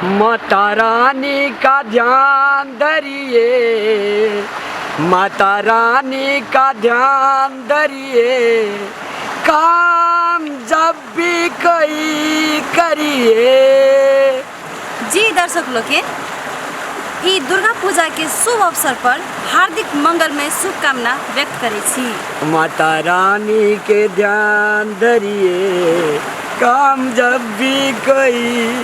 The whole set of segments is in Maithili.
माता रानी का ध्यान धरिए माता रानी का ध्यान धरिए काम जब भी कोई करिए जी दर्शक लोग के ई दुर्गा पूजा के शुभ अवसर पर हार्दिक मंगलमय शुभकामना व्यक्त करे छी माता रानी के ध्यान धरिए काम जब भी कोई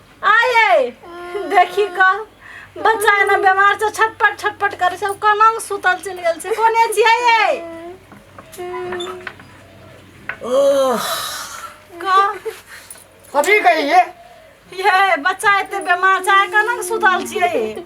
आये देखी का बच्चा एना बीमार से छटपट छटपट करे से कोना में सुतल चल गेल से कोने छियै ये ओह का कथी कहिए ये बच्चा एते बीमार छै कोना में सुतल छियै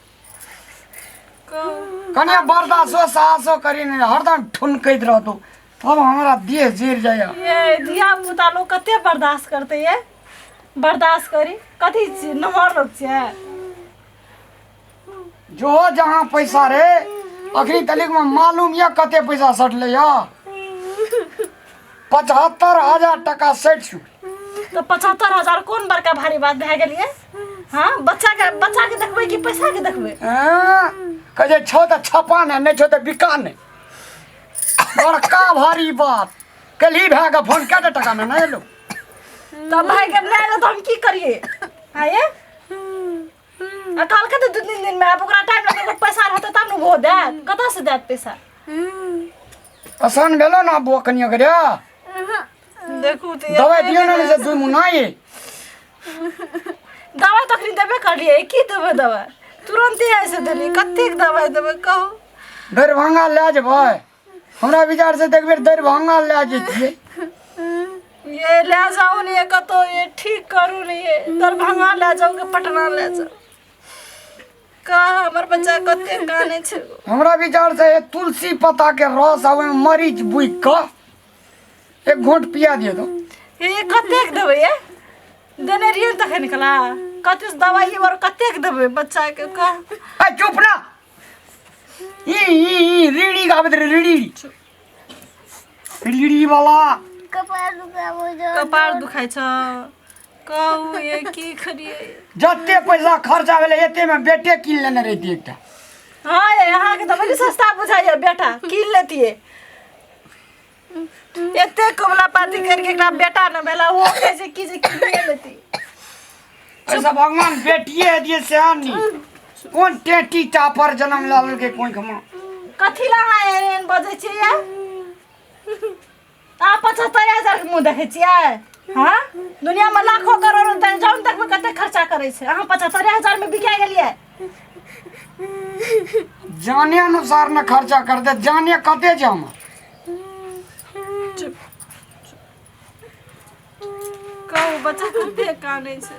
कने बर्दाश्तो साहसो करी नहीं हरदम ठुनकैत रहतो तब हमरा देह जर जाइए ये धिया पुता लोग कते बर्दाश्त करते ये बर्दाश्त करी कथी छी नमहर लोग छियै जो जहाँ पैसा रे अखनी तलिक में मालूम यऽ कते पैसा सटले यऽ पचहत्तर हजार टका सटि चुकल तऽ पचहत्तर हजार कोन बड़का भारी बात भए गेलियै हाँ बच्चा के बच्चा के देखबे कि पैसा के देखबे हाँ, कहे छै, छौ तऽ छपा ने नहि छौ तऽ बिका ने बड़का भारी बात कलही भए कऽ फोन कए टाका मे नहि एलौ तब भाई के ले लो तो हम की करिए आये आ कल के तो दू तीन दिन में अब ओकरा टाइम लगे तो पैसा रहते तब ने वो दे कतऽ से देत पैसा आसान भेलो ने बौआ कनिया करे देखू तऽ दवाइ दियौ ने जे दुइ मुन्ना ये दवाइ तऽ अखनी देबे करलियै की देबै दवाइ तुरन्ते आबि से देलियै कतेक दवाइ देबै कहू दरभंगा लए जेबै हमरा विचार से देखबे दरभंगा लए जैतियै ये लए जाउ ने ये कतहु ये ठीक करू ने ये दरभंगा लए जाउ कि पटना लए जाउ का हमर बच्चा कते कानै छै हमरा विचार से हे तुलसी पत्ता के रस आवे मरीच बुइक कऽ एक घोट पिया दियो तो ए कतेक देबै ए देने रहियै ने तखन कला कतेक दवाइ और कतेक देबै बच्चाके का ए चुप ना ई ई ई रीड़ी गाबत रे रीड़ी रीड़ी वाला कपार दुखाबो जो कपार दुखाइ छ कहू ये की करिए जते पैसा खर्चा भेलै एतेमे बेटे कीन लेने रहितियै एकटा हाँ ये यहाँ के तो बड़ी सस्ता बुझाइए बेटा कीन लेतिए एते कमला पाती करके एकरा बेटा न भेला वो कैसे की जे कीन लेती ऐसा भगवान बेटिए है दिए सेहन नहीं कौन टेटी टापर जन्म लाल के कोई खमा कथी ला हाँ एहन बजै छियै आ पचहत्तर हजार के मुंह देखे छियै हाँ दुनिया में लाखों करोड़ रुपया जौन तक में कते खर्चा करे छै अहाँ पचहत्तर हजार में बिका गेलियै जाने अनुसार न खर्चा कर दे जाने कते जे हम कहू बच्चा कते काने छै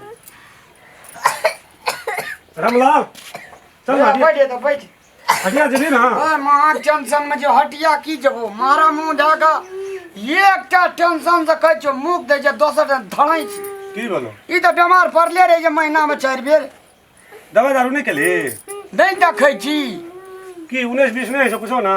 रामलाल चल ना बैठ जा बैठ हटिया जेबी ना ओए महा टेंशन में जो हटिया की जबो मारा मुंह ढाका एकटा टेंशन से कहै छो मुख दे जे दोसर दिन धड़ै छी की बोलो ई तऽ बीमार पड़ले रहे जे महीना में चारि बेर दवा दारू नहीं केली नहि देखै छी की उन्नीस बीस नहीं है सब कुछो ना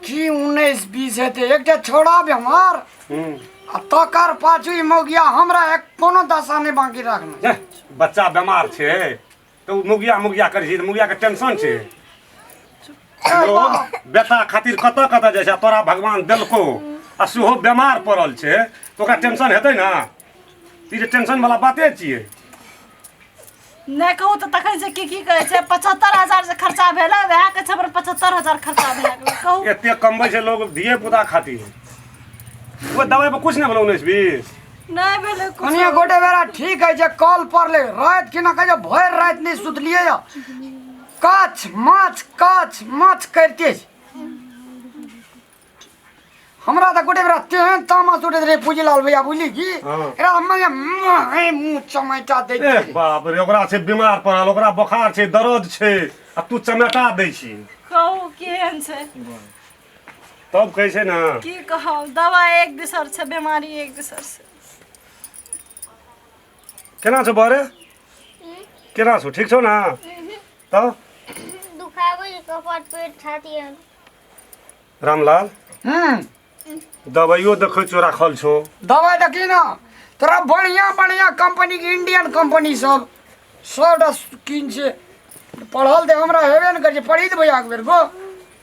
की उन्नैस बीस हेतै एकटा छोड़ा बीमार हम्म आ तकर पाछू ई मौगिया हमरा एक कोनो दशा नहि बाकी राखना जा, बच्चा बीमार छे तो मुगिया मुगिया कर ही मुगिया के टेंशन छे लोग बेटा खातिर कत कत जे छे तोरा भगवान देलको आ सेहो बीमार पड़ल छे तो ओकरा टेंशन हेतै ना ई जे टेंशन वाला बाते छिए नहि कहू तऽ तखन से की की कहै छै पचहत्तर हजार जे खर्चा भेलै वएह के छबर पचहत्तर हजार खर्चा भेलै कहू एते कमबै छै लोग धिये पुता खातिर वो दवाई पर कुछ नहीं बोलो उन्नीस बीस नहि भेलै कुछ कनिया गोटे बेरा ठीक है जे कॉल पर ले रात के ना कहियो भर रात नहीं सुतलिए या काच माछ काच माछ करते छी। हमरा तऽ गोटे बेरा तेहन तामस उठैत रहे पूजी लाल भैया बुझली की हाँ। एकरा हम माने माहे मुंह चमैटा दैत ए रहे। बाप रे ओकरा छै बीमार पड़ल ओकरा बोखार छै दर्द छै आ तू चमेटा दै छी कहू केहन छै तब कैसे ना की कहब दवा एक दूसर से बीमारी एक दूसर से केना छौ बरे केना छौ ठीक छौ ना तब दुखाबै छै कपाट पेट छाती आर रामलाल हम्म दवाइयो देखै छौ राखल छौ दवाई देखी ना तोरा बढ़िया बढ़िया कंपनी के इंडियन कंपनी सब सब डस किन से पढ़ल दे हमरा हेबे ने करे पढ़ी देबै एक बेर गो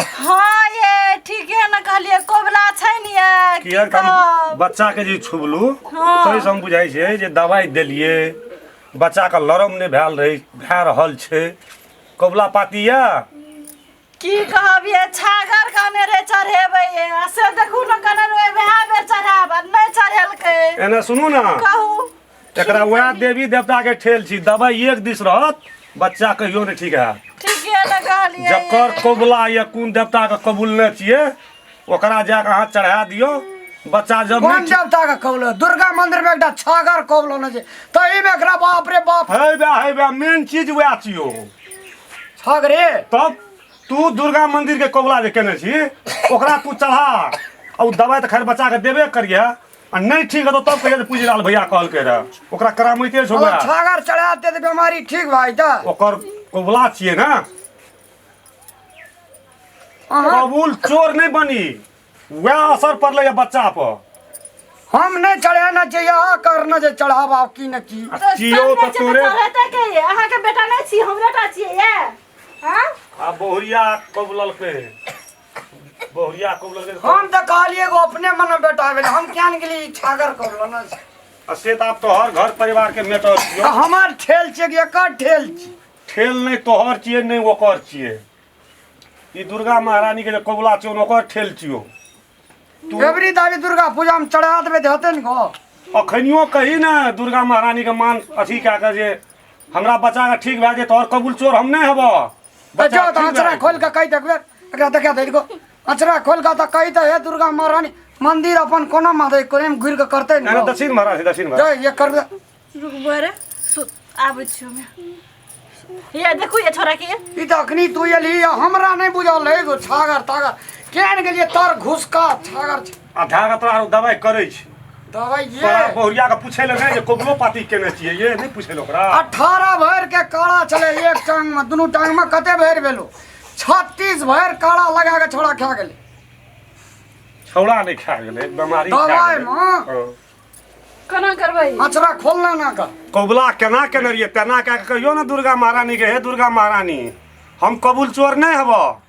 हाँ ये ठीक है ना कहलिए कोबला छै ने ये की किया हम कहब? बच्चा के जे छुबलू हाँ। सही से हम बुझाइ छै जे दवाई देलिए बच्चा के लरम नहि भेल रहै भए रहल छै कबुला पाती या की कहब ये छागर कहने रे चढ़ेबै ये आ से देखू ने कहने रे वएह बेर चढ़ाब आ नहि चढ़ेलकै एने सुनू ने कहू एकरा वएह देवी देवता के ठेल छी दवाई एक दिस रहत बच्चा कहियो नहीं ठीक है ठीक है ना कहलिए जकर कबुला या कौन देवता के कबूलने छिए ओकरा जाके अहाँ चढ़ा दियो बच्चा जब कोन नहीं देवता के कौलो दुर्गा मंदिर में एकटा छागर कौलो न जे तही में एकरा बाप रे बाप है बे है बे मेन चीज वएह छियो छागरे तब तू दुर्गा मंदिर के कबुला जे केने छी ओकरा तू चढ़ा और दवाई तो खैर बच्चा के देबे करिए आ नहीं ठीक है तो तब कहिए पूजी लाल भैया कहल के रहा ओकरा करामते छो अगर छागर चढ़ा दे तो बीमारी ठीक भाई तो ओकर कोबला छिए ना अहाँ कबूल चोर नहीं बनी वह असर पड़ल है बच्चा पर हम नहीं चढ़ाना चाहिए आ करना जे चढ़ाव आप की न की आ चियो तो तोरे रहते के ये अहाँ के बेटा नहीं छी हमरा टा छिए ये हां आ बहुरिया कबूलल के बहुरिया को लगे हम तो कहलिए एगो अपने मन में बेटा भेल हम क्या ने गेली छागर करलो ना आ से तो आप तोहर घर परिवार के मेटर छियो हमार ठेल छे कि एकर ठेल छी ठेल नहीं तोहर छिए नहीं ओकर छिए ई दुर्गा महारानी के जे कबुला छियो ओकर ठेल छियो तू एवरी दावी दुर्गा पूजा में चढ़ा देबे ते होते ने गो अखनियो कही ना दुर्गा महारानी के मान अथी कए के जे हमरा बच्चा के ठीक भए जे तोहर कबूल चोर हम नहीं हबो त जो त अचरा खोल के कहि देखबे एकरा देखा दे को अचरा खोल के त कहि त हे दुर्गा महारानी मंदिर अपन कोनो मादे कोने में घुर के करते अरे न दक्षिण महाराज दक्षिण महाराज जो ये कर दे रुकबो रे सु- आबै छियो हमे ये देखू ये छोरा के ई त अखनी तू एली हमरा नहीं बुझल है एगो छागर तागर केन गेलिए तर घुसका छागर अधार अतरा आरो दवाइ करै छी दवाइ ये तोरा बहुरिया के पूछे ले नहीं जे कोबलो पाती केने छिए ये नहीं पूछे ले ओकरा अठारह भर के काला चले एक टांग में दुनू टांग में कते भर भेलो छत्तीस भर काला लगा के छोड़ा खा गेले छौड़ा नहीं खा गेले बीमारी खा दवाइ गेले में हाँ। केना करबै अचरा खोलना ना का कोबला केना केने रहिए तेना कए के कहियो ने दुर्गा महारानी के हे दुर्गा महारानी हम कबूल चोर नहीं हबो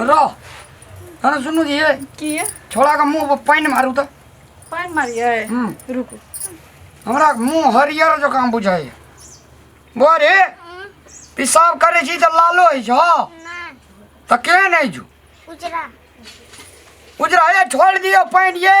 रह अरे सुनू जी ये की है छोड़ा के मुंह पर पानि मारू तऽ पानि मारियै हम्म, रुकू हमरा मुंह हरियर जकाँ बुझाइए बौआ रे पेशाब करै छी तऽ लालो होइ छौ तऽ केहन होइ छौ उजरा उजरा ये छोड़ दियो पानि ये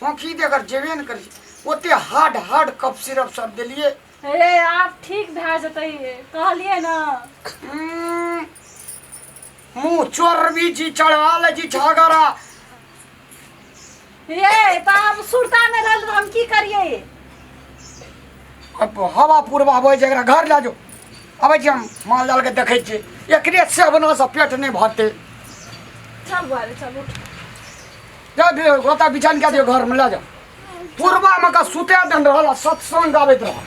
खोखी दे अगर जेबे ने करी ओते हार्ड हार्ड कप सिरप सब देलिए हे आप ठीक भए जेतै कहलिए ना हम्म, मुँह चोरबी जी चढ़ा ले जी झगड़ा ये तो आप सुरता में रहल तो हम की करिए अब हवा पूर्वा हो जरा घर ला जो अबै छी हम माल जाल के देखै छी एकरे सेवना से पेट नहि भरते चल बुआरे चल उठ जा दे गोता बिछान के दियो घर में ले जा पूर्वा में का सुते दन रहल आ सत्संग गाबैत रहल